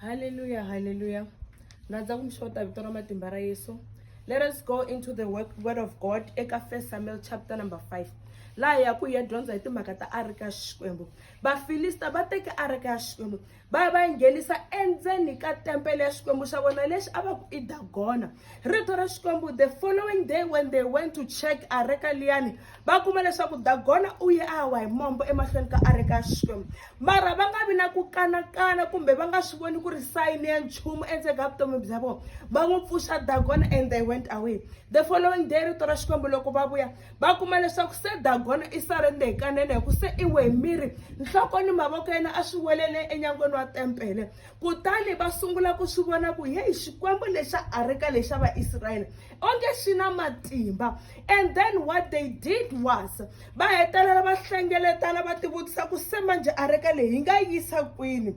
Hallelujah, hallelujah. Nandza ku mi xota vito ra matimba ra Yesu. Let us go into the word, word of God eka 1 Samuel chapter number 5. Laha ya ku ya dyondza hi timhaka ta arika ya Xikwembu. Vafilista va teke arika ya Xikwembu va ya va yi nghenisa endzeni ka tempele ya Xikwembu xa vona lexi a va ku i Dagona. rito ra xikwembu the following day when they went to check areka liyani va kuma leswaku dagona u ye a wa hi mombo emahlweni ka areka ya xikwembu mara va nga vi na ku kanakana kumbe va nga swi voni ku ri sayini ya nchumu endzeni ka vutomi bya vona va n'wi pfuxa dagona and they went away the following day rito ra xikwembu loko va vuya va kuma leswaku se dagona i sarende hi kanene hi ku se i we hi miri nhloko ni mavoko yena a swi welele enyangweni wa tempele Kutani va sungula ku swi vona ku heyi xikwembu lexa areka lexa vaisrayele onge xi na matimba and then what they did was va hetelela va hlengeletana va tivutisa ku se manjhe areka leyi hi nga yisa kwini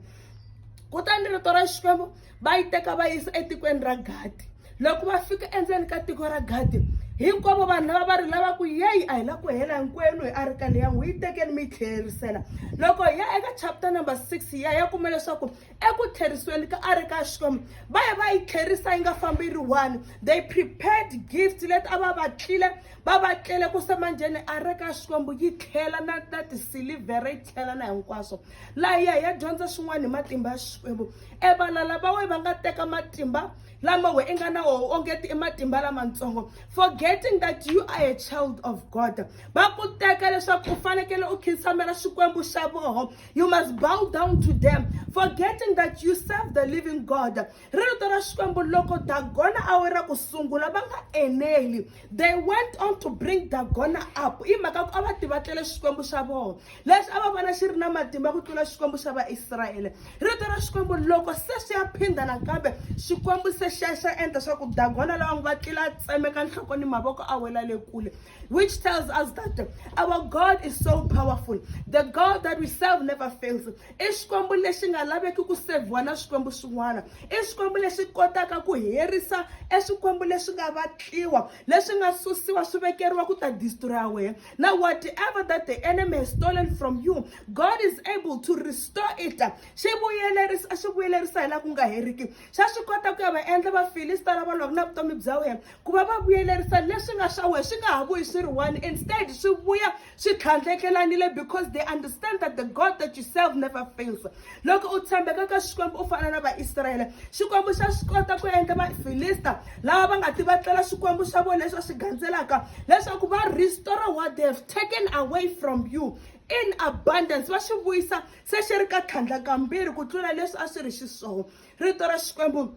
kutani rito ra xikwembu va yi teka va yisa etikweni ra gadi loko va fika endzeni ka tiko ra gadi hinkwavo vanhu lava va ri lava ku yeyi a hi la ku hela hinkwenu hi arika leya n'wi yi tekeni mi yi tlherisela loko hi ya eka chapter number six hi ya ya kuma leswaku eku tlherisweni ka arika ya xikwembu va ya va yi tlherisa yi nga fambi yi ri one they prepared gift leti a va va tlile va va tlele ku semanjheni arika ya xikwembu yi tlhela na na tisilivhere yi tlhela na hinkwaswo laha yi ya hi ya dyondza swin'wana hi matimba ya xikwembu evalala va we va nga teka matimba lama we i nga na woho ongeti i matimba lamatsongo forgetting that you are a child of god va ku teka leswaku u fanekele u khinsamela xikwembu xa voho you must bow down to them forgetting that you serve the living god ri rito ra xikwembu loko dagona a we ra ku sungula va nga eneli they went on to bring dagona up i mhaka ku a va tivatlele xikwembu xa voho leswi a va vona xi ri na matimba ku tlula xikwembu xa vaisrayele rito ra xikwembu loko se swi ya phinda nakambe xikwembu se xa xa endla swa ku dagona lawa ngi va tlila a tsemeka nhloko ni mavoko a wela le kule which tells us that our god is so powerful the god that we serve never fails i xikwembu lexi nga laveki ku sevhiwa na swikwembu swin'wana i xikwembu lexi kotaka ku herisa e swikwembu leswi nga vatliwa leswi nga susiwa swi vekeriwa ku ta destroya wena Now, whatever that the enemy has stolen from you, God is able to restore it. Xi vuyelerisa, a xi vuyelerisa hi la ku nga heriki. Xa swi kota ku ya va endla Vafilista lava lwaka na vutomi bya wena, ku va va vuyelerisa leswi nga swa wena, swi nga ha vuyi swi ri one. Instead, swi vuya swi tlhandlekelanile because they understand that the God that you serve never fails. loko u tshembeka ka xikwembu u fana na vaisrayele xikwembu xa swi kota ku endla vafilista lava va nga tivatlela xikwembu xa vona leswi va swi gandzelaka leswaku va restore what they have taken away from you in abundance va swi vuyisa se xi ri ka tlhandla kambirhi ku tlula leswi a swi ri xiswona rito ra xikwembu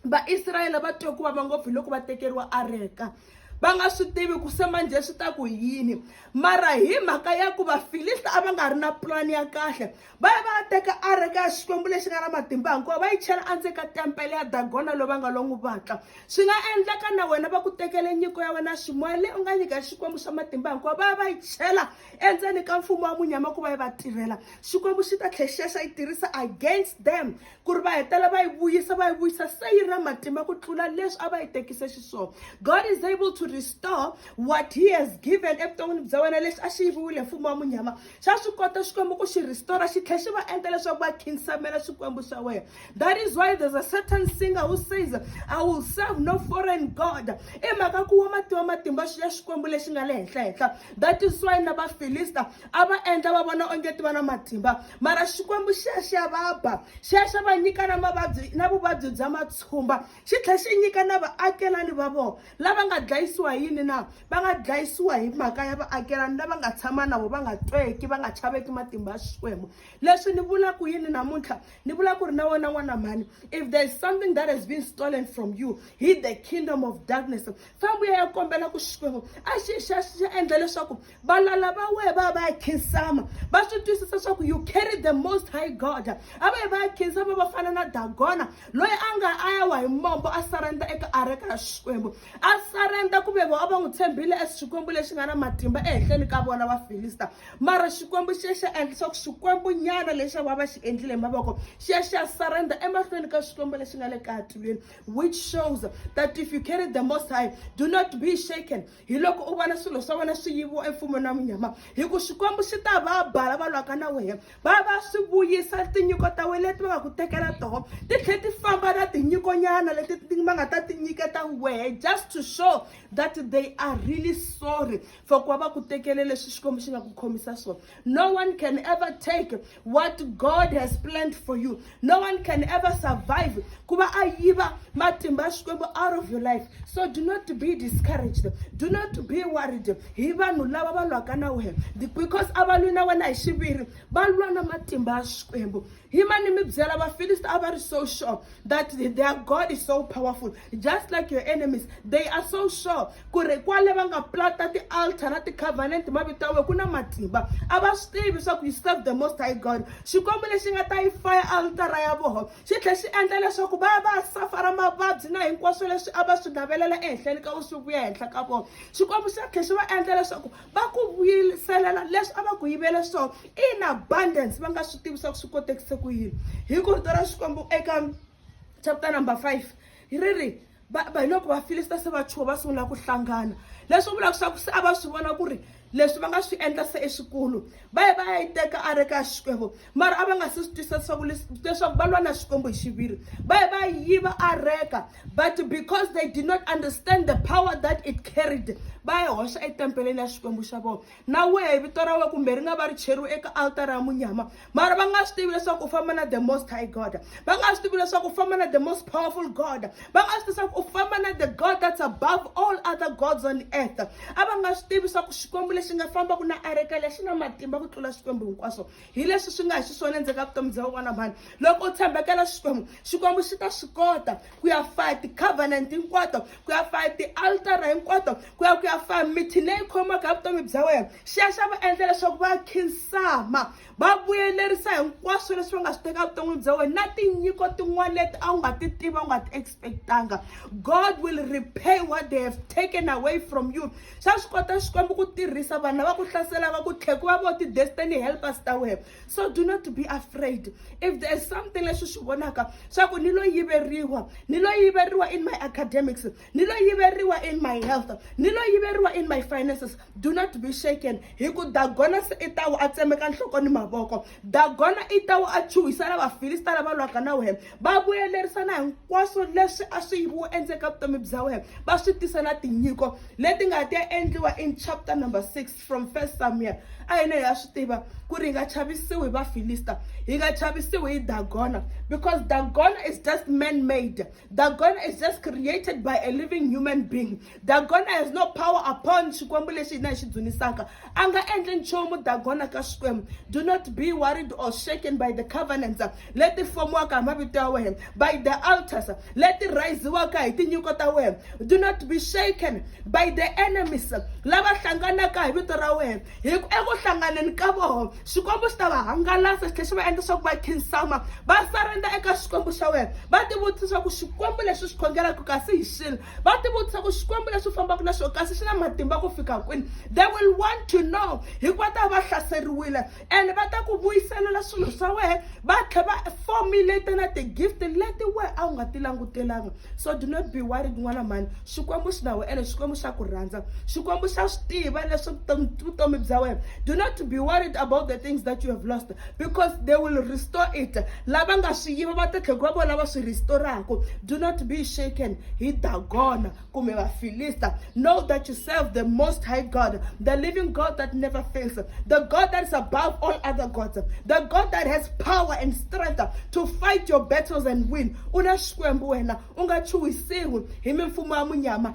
vaisrayele va twe ku vava ngopfu hi loko va tekeriwa areka va nga swi tivi ku se manjhe swi ta ku yini mara hi mhaka ya ku vafilista a va nga ri na pulani ya kahle va ya va ya teka areka ya xikwembu lexi nga na matimba hikuva va yi chela endzeni ka tempele ya dagona loyi va nga lo n'wi vatla swi nga endleka na wena va ku tekele nyiko ya wena ximoya leyi u nga nyika xikwembu xa matimba hikuva va ya va yi chela endzeni ka mfumo wa munyama ku va yi va tirhela xikwembu xi ta tlhe xi ya xa yi tirhisa against them ku ri va hetela va yi vuyisa va yi vuyisa se yi ri na matimba ku tlula leswi a va yi tekise xiswona god is able to restore what he has given evuton'wini bya wena lexi a xi yiviwile mfumo wa munyama xa swi kota xikwembu ku xi restore xi tlhela xi va endla leswaku va khinsamela swikwembu swa wena that is why there's a certain singer who says i will serve no foreign god i mhaka ku wa mativa matimba ya xikwembu lexi nga le henhla henhla that is why na vafilista a va endla va vona onge ti va na matimba mara xikwembu xi ya xi ya va ba xi ya xi va nyika na mavabyi na vuvabyi bya matshumba xi tlhela xi nyika na vaakelani va vona lava nga dlayisiwa hi yini na va nga dlayisiwa hi mhaka ya vaakelani lava nga tshama na vona va nga tweki va nga chaveki matimba ya xikwembu leswi ni vula ku yini namuntlha ni vula ku ri na wena n'wana mhani if there is something that has been stolen from you hi the kingdom of darkness fambu ya ya kombela ku xikwembu a xi xa xi endla leswaku valala va wehe va ya va ya khinsama va swi twisisa swa ku you carry the most high god a va yi va ya khinsama va fana na dagona loyi a nga a ya wa hi mombo a sarenda eka areka ya xikwembu a sarenda ku ve a va n'wi tshembile e xikwembu lexi nga na matimba ehenhleni ka vona vafilista mara xikwembu xi ya xi endla swa ku xikwembu nyana lexi va va xi endlile hi mavoko xi ya xi ya sarenda emahlweni ka xikwembu lexi nga le katilweni which shows that if you carry the most high do not be shaken hi loko u vona swilo swa wena swi yiviwa emfumeni wa munyama hi ku xikwembu xi ta va bala va lwaka na wena va va swi vuyisa tinyiko ta wena leti va nga ku tekela toho ti tlhela ti famba na tinyikonyana leti va nga ta ti nyiketa wehe just to show that they are really sorry for ku va va ku tekele leswi xikwembu xi nga ku khomisa swona No one can ever take what God has planned for you. No one can ever survive. Kuba ayiba matimba xikwembu out of your life. So do not be discouraged. Do not be worried. Hi vanhu lava va lwaka na wena. Because a va lwi na wena hi xiviri. Va lwa na matimba ya xikwembu. Hima ni mi byela Vafilisti a va ri so sure that their God is so powerful just like your enemies they are so sure ku ri kwale va nga plata ti-altar na ti-covenant mavito ya wena ku na matimba a va swi tivi swa ku you serve the most high God xikwembu lexi nga ta yi faya altara ya voho xi tlhe xi endla leswaku va va safara mavabyi na hinkwaswo leswi a va swi navelela ehenhleni ka u swi vuya henhla ka vona xikwembu xi tlhe xi va endla leswaku va ku vuyiselela leswi a va ku yivele swona in abundance va nga swi tivi swa ku swi kotekise ku yini hi ku rito ra xikwembu eka chapter number five ri ri hi loko vafilista se va chuha va sungula ku hlangana leswi vulaka swa ku se a va swi vona ku ri leswi va nga swi endla se eswikulu va ye va ya yi teka a ri ka xikwembu mara a va nga se swi twisisa leswaku leswaku va lwa na xikwembu hi xiviri va ye va yiva areka but because they did not understand the power that it carried va yi hoxa etempeleni ya xikwembu xa vona na wehe vito ra wena kumbe ri nga va ri cheriwe eka altara ya munyama mara va nga swi tivi leswaku u famba na the most high god va nga swi tivi leswaku u famba na the most powerful god va nga swi tivi leswaku u famba na the god that's above all other gods on earth a va nga swi tivi leswaku xikwembu lexi nga fambaka na areka lexi na matimba ku tlula xikwembu hinkwaswo hi leswi swi nga hi xiswona endzeni ka vutomi bya un'wana mhani loko u tshembekela xikwembu xikwembu xi ta swi kota ku ya faya ti-covenant hinkwato ku ya faya ti-altara hinkwato ku ya ku ya faya mithi leyi khomaka ya vutomi bya wena xi ya xa va endla leswaku va khinsama va vuyelerisa hinkwaswo leswi va nga swi teka vuton'wini bya wena na tinyiko tin'wana leti a wu nga ti tiva u nga ti expectanga god will repay what they have taken away from you xa swi kota xikwembu ku tirhisa vanhu lava ku hlasela va ku tlhe ku va vo ti-destiny helpers ta wena so do not be afraid if there is something leswi swi vonaka swa ku ni lo yiveriwa ni lo yiveriwa in my academics ni lo yiveriwa in my health ni lo yiveriwa in my finances do not be shaken hi ku dagona se i tawo a tsemeka nhloko ni mavoko dagona i tawo a chuhisa na vafilista lava lwaka na wena va vuyelerisa na hinkwaswo leswi a swi yiviwo endzeni ka vutomi bya wena va swi tisa na tinyiko leti nga ta endliwa in chapter number six from first samuel a hina hi ya swi tiva ku ri hi nga chavisiwi hi vafilista hi nga chavisiwi hi dagona because dagona is just man made dagona is just created by a living human being Dagona has no power upon Xikwembu lexi hina hi xi dzunisaka. A nga endli nchumu Dagona ka Xikwembu. Do not be worried or shaken by the covenants leti fomiwaka hi mavito ya wena, by the altars leti rhayiziwaka hi tinyiko ta wena. Do not be shaken by the enemies lava hlanganaka hi vito ra wena. Hi ku eku hlanganeni ka voho Xikwembu xi ta va hangalasa xi tlhela xi va endla swa ku va khinsama va sarenda eka Xikwembu xa wena va tivutisa swa ku Xikwembu lexi xi khongelaka kasi hi xini va tivutisa ku xikwembu leswi fambaka na swo kasi xi na matimba ku fika kwini they will want to know hikuva ta va hlaseriwile and va ta ku vuyiselela swilo swa wena va tlhe va formulate na ti-gift leti we a wu nga ti langutelanga so do not be worried n'wana mhani xikwembu xi na we ene xikwembu xa ku rhandza xikwembu xa swi tiva leswi vutomi bya wena do not be worried about the things that you have lost because they will restore it lava nga swi yiva va ta tlhela va vona lava swi restoraku do not be shaken hi dagona kumbe vafilista know that you serve the most high god the living god that never fails the god that is above all other gods the god that has power and strength to fight your battles and win u na xikwembu wena u nga chuhisiwi hi mimfumo ya munyama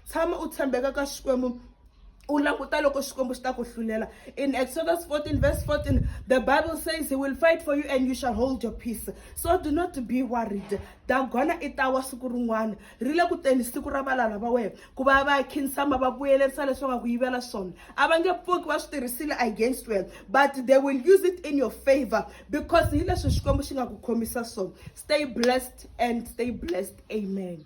tshama u tshembeka ka xikwembu u languta loko xikwembu xi ta ku hlulela in exodus 14 verse 14 the bible says he will fight for you and you shall hold your peace so do not be worried dagona i ta wa siku rin'wana ri le ku teni siku ra valala va wena ku va va khinsama va vuyelerisa leswi va nga ku yivela swona a va nge pfuki va swi tirhisile against wena but they will use it in your favor because hi leswi xikwembu xi nga ku khomisa swona stay blessed and stay blessed amen